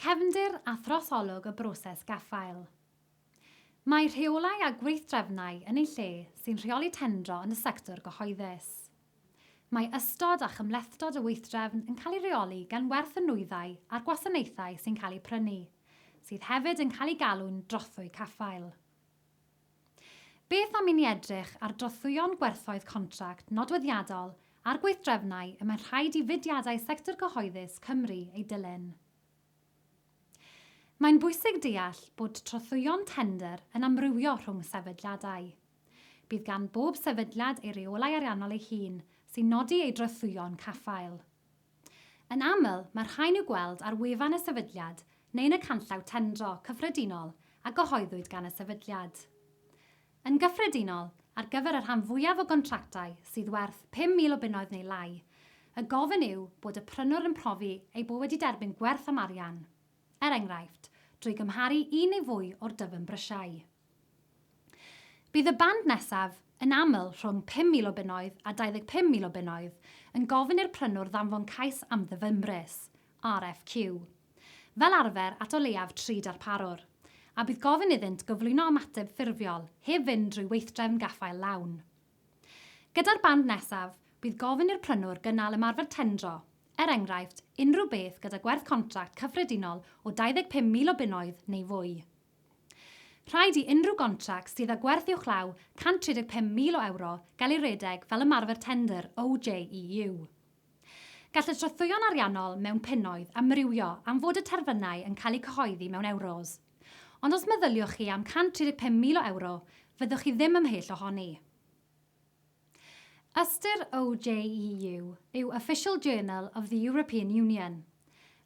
Cefndir a throsolwg y broses gaffael. Mae rheolau a gweithdrefnau yn ei lle sy'n rheoli tendro yn y sector gyhoeddus. Mae ystod a chymhlethdod y weithdrefn yn cael ei reoli gan werth y nwyddau a'r gwasanaethau sy'n cael eu prynu, sydd hefyd yn cael eu galw'n drothwy caffael. Beth am i ni edrych ar drothwyon gwerthoedd contract nodweddiadol a'r gweithdrefnau y mae'n rhaid i fudiadau sector cyhoeddus Cymru eu dilyn? Mae'n bwysig deall bod trothwyon tendr yn amrywio rhwng sefydliadau. Bydd gan bob sefydliad ei reolau ariannol ei hun sy'n nodi ei drothwyon caffael. Yn aml, mae'r rhain i'w gweld ar wefan y sefydliad neu yn y canllaw tendro cyffredinol a gyhoeddwyd gan y sefydliad. Yn gyffredinol, ar gyfer y rhan fwyaf o gontractau sydd werth 5,000 o bunnoedd neu lai, y gofyn yw bod y prynwr yn profi ei bod wedi derbyn gwerth am arian, er enghraifft, drwy gymharu un neu fwy o'r dyfn brysiau. Bydd y band nesaf, yn aml rhwng 5,000 o bunnoedd a 25,000 o bunnoedd, yn gofyn i'r prynwr ddanfon cais am ddyfynbris, RFQ, fel arfer at o leiaf tri darparwr, a bydd gofyn iddynt gyflwyno ymateb ffurfiol heb fynd drwy weithdrefn gaffael lawn. Gyda'r band nesaf, bydd gofyn i'r prynwr gynnal ymarfer tendro, er enghraifft, unrhyw beth gyda gwerth contract cyffredinol o 25,000 o bunnoedd neu fwy. Rhaid i unrhyw gontract sydd â gwerth uwchlaw 135,000 o ewro gael ei redeg fel ymarfer tendr OJEU. Gall y trothwyon ariannol mewn punnoedd amrywio am fod y terfynau yn cael eu cyhoeddi mewn ewros, ond os meddyliwch chi am 135,000 o ewro, fyddwch chi ddim ymhell ohoni. Ystyr OJEU yw Official Journal of the European Union,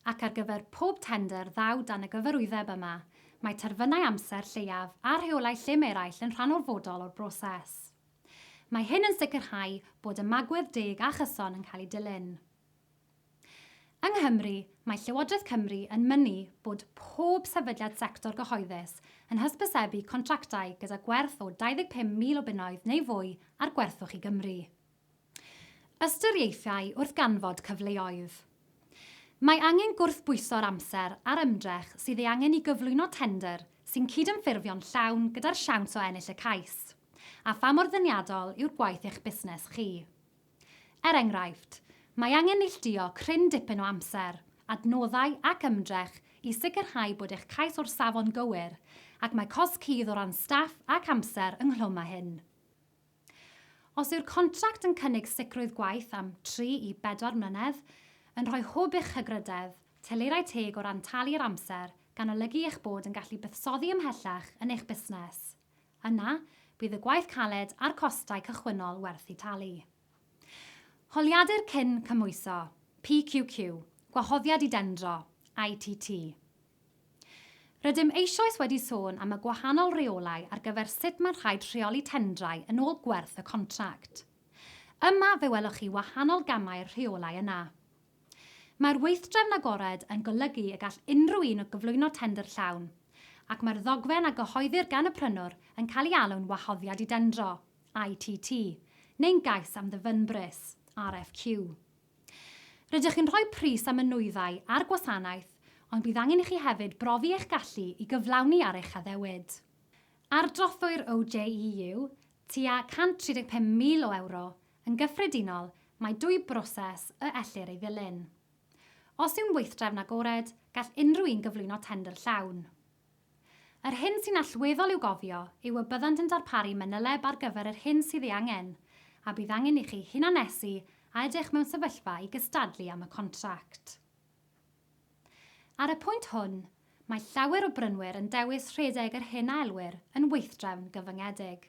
ac ar gyfer pob tendr ddaw dan y gyfarwyddeb yma, mae terfynau amser lleiaf a rheolau llym eraill yn rhan orfodol o'r broses. Mae hyn yn sicrhau bod ymagwedd deg a chyson yn cael eu dilyn. Yng Nghymru, mae Llywodraeth Cymru yn mynnu bod pob sefydliad sector gyhoeddus yn hysbysebu contractau gyda gwerth o 25,000 o bunnoedd neu fwy ar gwerthwch i Gymru. Ystyriaethau wrth ganfod cyfleoedd. Mae angen gwrthbwyso'r amser a'r ymdrech sydd ei angen i gyflwyno tendr sy'n cydymffurfio'n llawn gyda'r siawns o ennill y cais, a pha mor ddeniadol yw'r gwaith eich busnes chi. Er enghraifft, mae angen neilltuo cryn dipyn o amser, adnoddau ac ymdrech i sicrhau bod eich cais o'r safon gywir, ac mae cosb cudd o ran staff ac amser ynghlwm â hyn. Os yw'r contract yn cynnig sicrwydd gwaith am tri i bedwar mlynedd, yn rhoi hwb i'ch hygrydedd, teleirau teg o ran talu'r amser, gan olygu eich bod yn gallu buddsoddi ymhellach yn eich busnes. Yna, bydd y gwaith caled a'r costau cychwynnol werth eu talu. Holiadur Cyn Cymhwyso, PQQ, Gwahoddiad i Dendro, ITT. Rydym eisoes wedi sôn am y gwahanol reolau ar gyfer sut mae'n rhaid rheoli tendrau yn ôl gwerth y contract. Yma fe welwch chi wahanol gamau'r rheolau yna. Mae'r weithdrefn agored yn golygu y gall unrhyw un o gyflwyno tendr llawn, ac mae'r ddogfen a gyhoeddir gan y prynwr yn cael ei alw'n wahoddiad i dendro, ITT, neu'n gais am ddyfynbris, RFQ. Rydych chi'n rhoi pris am y nwyddau a'r gwasanaeth, ond bydd angen i chi hefyd brofi eich gallu i gyflawni ar eich addewid. Ardrothwyr OJEU, tua 135,000 o ewro, yn gyffredinol, mae dwy broses y ellir ei ddilyn. Os yw'n weithdrefn agored, gall unrhyw un gyflwyno tendr llawn. Yr hyn sy'n allweddol i'w gofio yw y byddant yn darparu manyleb ar gyfer yr hyn sydd ei angen, a bydd angen i chi hunannesu a edrych mewn sefyllfa i gystadlu am y contract. Ar y pwynt hwn, mae llawer o brynwyr yn dewis rhedeg yr hyn a elwir yn weithdrefn gyfyngedig.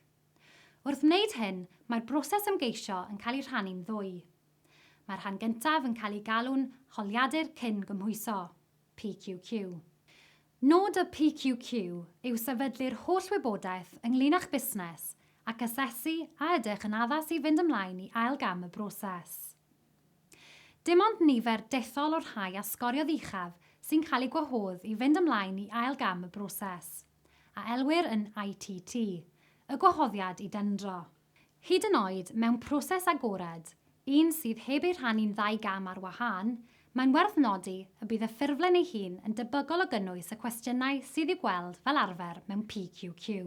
Wrth wneud hyn, mae'r broses ymgeisio yn cael ei rhannu'n ddwy. Mae'r rhan gyntaf yn cael ei galw'n holiadur cyn-gymhwyso, PQQ. Nod y PQQ yw sefydlu'r holl wybodaeth ynglŷn â'ch busnes ac asesu a ydych yn addas i fynd ymlaen i ail gam y broses. Dim ond nifer dethol o'r rhai a sgoriodd uchaf sy'n cael eu gwahodd i fynd ymlaen i ail gam y broses, a elwir yn ITT, y gwahoddiad i dendro. Hyd yn oed mewn proses agored, un sydd heb ei rhannu'n ddau gam ar wahân, mae'n werth nodi y bydd y ffurflen ei hun yn debygol o gynnwys y cwestiynau sydd i'w gweld fel arfer mewn PQQ.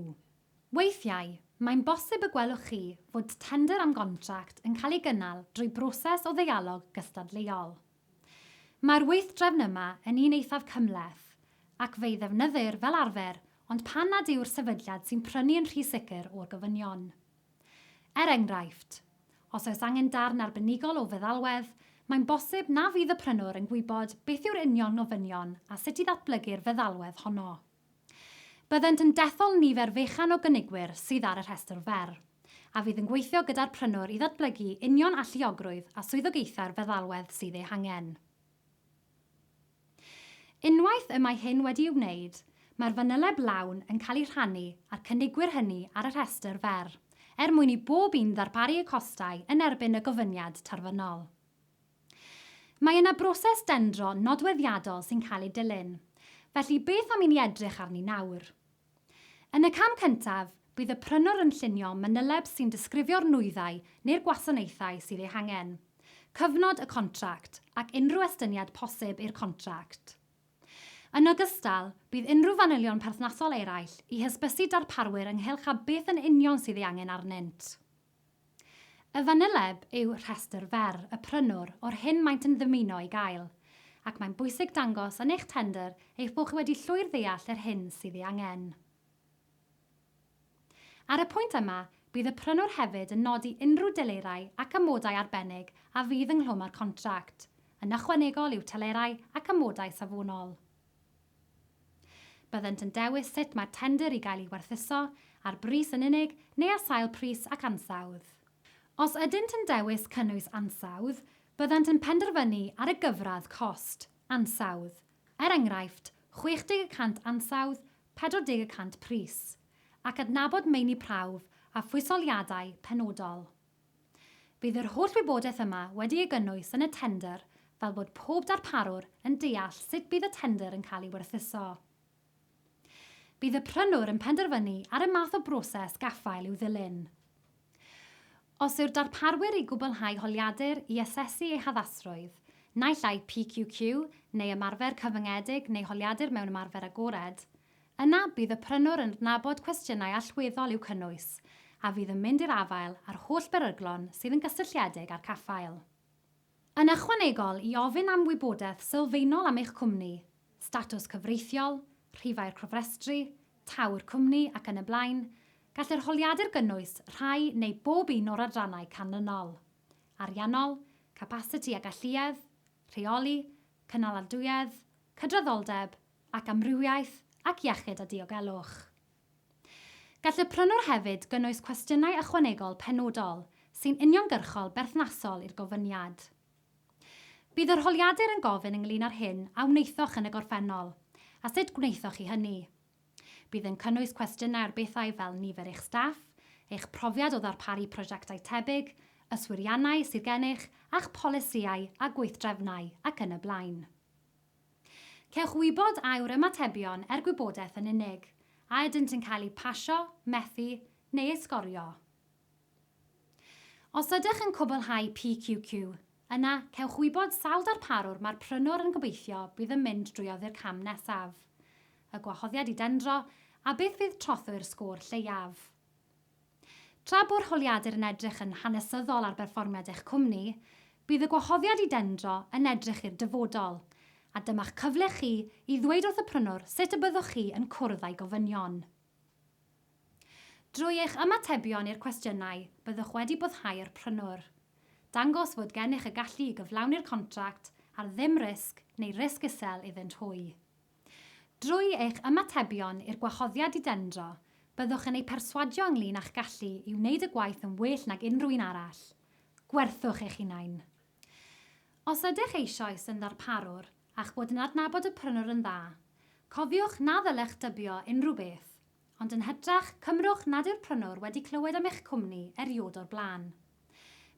Weithiau, mae'n bosib y gwelwch chi fod tendr am gontract yn cael ei gynnal drwy broses o ddeialog gystadleuol. Mae'r weithdrefn yma yn un eithaf cymhleth, ac fe'i ddefnyddir fel arfer ond pan nad yw'r sefydliad sy'n prynu yn rhy sicr o'r gofynion. Er enghraifft, os oes angen darn arbenigol o feddalwedd, mae'n bosib na fydd y prynwr yn gwybod beth yw'r union ofynion a sut i ddatblygu'r feddalwedd honno. Byddent yn dethol nifer fechan o gynigwyr sydd ar y rhestr fer, a fydd yn gweithio gyda'r prynwr i ddatblygu union alluogrwydd a swyddogaethau'r feddalwedd sydd eu hangen. Unwaith y mae hyn wedi'i wneud, mae'r fanyleb lawn yn cael ei rhannu â'r cynigwyr hynny ar y rhestr fer, er mwyn i bob un ddarparu y costau yn erbyn y gofyniad terfynol. Mae yna broses dendro nodweddiadol sy'n cael ei dilyn, felly beth am i ni edrych arni nawr? Yn y cam cyntaf, bydd y prynwr yn llunio manyleb sy'n disgrifio'r nwyddau neu'r gwasanaethau sydd eu hangen, cyfnod y contract ac unrhyw estyniad posib i'r contract. Yn ogystal, bydd unrhyw fanylion perthnasol eraill i hysbysu darparwyr ynghylch â beth yn union sydd ei angen arnynt. Y fanyleb yw rhestr fer y prynwr o'r hyn maent yn ddymuno ei gael, ac mae'n bwysig dangos yn eich tendr eich bod chi wedi llwyr ddeall yr hyn sydd ei angen. Ar y pwynt yma, bydd y prynwr hefyd yn nodi unrhyw delerau ac amodau arbennig a fydd ynghlwm â'r contract, yn ychwanegol i'w telerau ac amodau safonol. Byddent yn dewis sut mae'r tendr i gael ei werthuso, ar bris yn unig neu ar sail pris ac ansawdd. Os ydynt yn dewis cynnwys ansawdd, byddant yn penderfynu ar y gyfradd cost, ansawdd, er enghraifft, 60 y cant ansawdd, 40 y cant pris, ac adnabod meini prawf a phwysoliadau penodol. Bydd yr holl wybodaeth yma wedi ei gynnwys yn y tendr fel bod pob darparwr yn deall sut bydd y tendr yn cael ei werthuso. Bydd y prynwr yn penderfynu ar y math o broses gaffael i'w ddilyn. Os yw'r darparwyr i gwblhau holiadur i asesu ei haddasrwydd, naill ai PQQ neu ymarfer cyfyngedig neu holiadur mewn ymarfer agored, Yna bydd y prynwr yn adnabod cwestiynau allweddol i'w cynnwys, a fydd yn mynd i'r afael â'r holl beryglon sydd yn gysylltiedig â'r caffael. Yn ychwanegol i ofyn am wybodaeth sylfaenol am eich cwmni, statws cyfreithiol, rhifau'r cofrestru, taw'r cwmni ac yn y blaen, gall yr holiadur gynnwys rhai neu bob un o'r adrannau canlynol, ariannol, capasiti a galluedd, rheoli, cynaladwyedd, cydraddoldeb, ac amrywiaeth ac iechyd a diogelwch. Gall y prynwr hefyd gynnwys cwestiynau ychwanegol penodol sy'n uniongyrchol berthnasol i'r gofyniad. Bydd yr holiadur yn gofyn ynglŷn â'r hyn a wnaethoch yn y gorffennol a sut gwnaethoch chi hynny. Bydd yn cynnwys cwestiynau ar bethau fel nifer eich staff, eich profiad o ddarparu prosiectau tebyg, yswiriannau sydd gennych a'ch polisïau a gweithdrefnau ac yn y blaen. Cewch wybod a yw'r ymatebion er gwybodaeth yn unig, a ydynt yn cael eu pasio, methu, neu eu sgorio. Os ydych yn cwblhau PQQ, yna cewch wybod sawl darparwr mae'r prynwr yn gobeithio bydd yn mynd drwy oddi'r cam nesaf, y gwahoddiad i dendro, a beth fydd trothwy'r sgôr lleiaf. Tra bo'r holiadur yn edrych yn hanesyddol ar berfformiad eich cwmni, bydd y gwahoddiad i dendro yn edrych i'r dyfodol, a dyma'ch cyfle chi i ddweud wrth y prynwr sut y byddwch chi yn cwrdd â'i gofynion. Drwy eich ymatebion i'r cwestiynau, byddwch wedi boddhau'r prynwr. Dangos fod gennych y gallu i gyflawni'r contract ar ddim risg neu risg isel iddynt hwy. Drwy eich ymatebion i'r gwahoddiad i dendro, byddwch yn eu perswadio ynglŷn â'ch gallu i wneud y gwaith yn well nag unrhyw un arall. Gwerthwch eich hunain! Os ydych eisoes yn ddarparwr a'ch bod yn adnabod y prynwr yn dda, cofiwch na ddylech dybio unrhyw beth, Ond yn hytrach, cymrwch nad yw'r prynwr wedi clywed am eich cwmni erioed o'r blaen.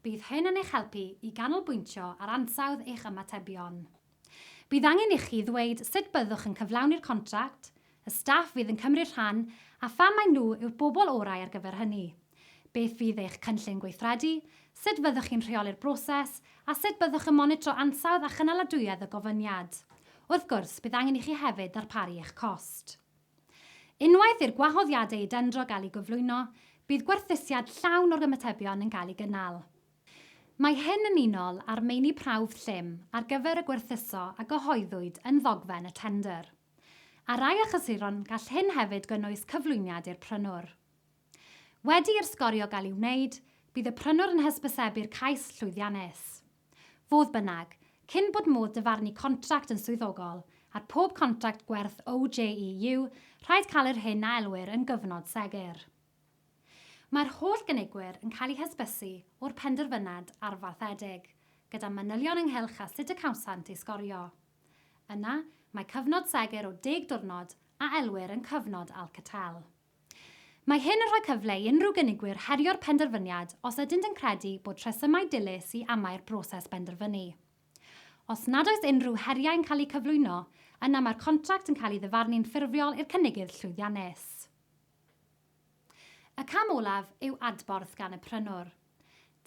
Bydd hyn yn eich helpu i ganolbwyntio ar ansawdd eich ymatebion. Bydd angen ichi ddweud sut byddwch yn cyflawni'r contract, y staff fydd yn cymryd rhan, a pham mai nhw yw'r bobl orau ar gyfer hynny, beth fydd eich cynllun gweithredu, sut fyddwch chi'n rheoli'r broses, a sut byddwch yn monitro ansawdd a chynaladwyedd y gofyniad. Wrth gwrs, bydd angen i chi hefyd ddarparu eich cost. Unwaith i'r gwahoddiadau i dendro gael eu gyflwyno, bydd gwerthusiad llawn o'r ymatebion yn cael ei gynnal. Mae hyn yn unol â'r meini prawf llym ar gyfer y gwerthuso a gyhoeddwyd yn ddogfen y tendr. Ar rai achlysuron gall hyn hefyd gynnwys cyflwyniad i'r prynwr. Wedi i'r sgorio gael ei wneud, bydd y prynwr yn hysbysebu'r cais llwyddiannus. Fodd bynnag, cyn bod modd dyfarnu contract yn swyddogol, ar pob contract gwerth OJEU, rhaid cael yr hyn a elwir yn gyfnod segur. Mae'r holl gynigwyr yn cael eu hysbysu o'r penderfynad arfaethedig, gyda manylion ynghylch a sut y cawsant ei sgorio. Yna, mae cyfnod segur o deg diwrnod, a elwir yn cyfnod Alcatel. Mae hyn yn rhoi cyfle i unrhyw gynigwyr herio'r penderfyniad os ydynt yn credu bod rhesymau dilys i amau'r broses benderfynu. Os nad oes unrhyw heriau yn cael eu cyflwyno, yna mae'r contract yn cael ei ddyfarnu'n ffurfiol i'r cynigydd llwyddiannus. Y cam olaf yw adborth gan y prynwr.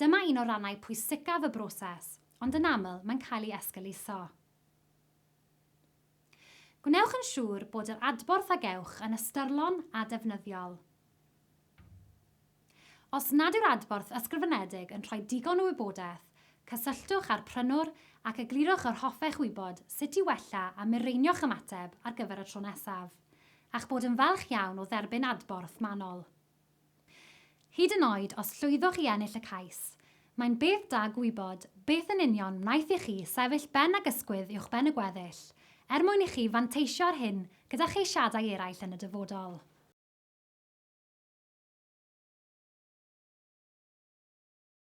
Dyma un o rannau pwysicaf y broses, ond yn aml mae'n cael ei esgeuluso. Gwnewch yn siŵr bod yr adborth a gewch yn ystyrlon a defnyddiol. Os nad yw'r adborth ysgrifenedig yn rhoi digon o wybodaeth, cysylltwch â'r prynwr ac eglurwch yr hoffech wybod sut i wella a mireinio'ch ymateb ar gyfer y tro nesaf, a'ch bod yn falch iawn o dderbyn adborth manwl. Hyd yn oed os llwyddoch i ennill y cais, mae'n beth da gwybod beth yn union wnaeth i chi sefyll ben ag ysgwydd uwchben y gweddill, er mwyn i chi fanteisio ar hyn gyda cheisiadau eraill yn y dyfodol.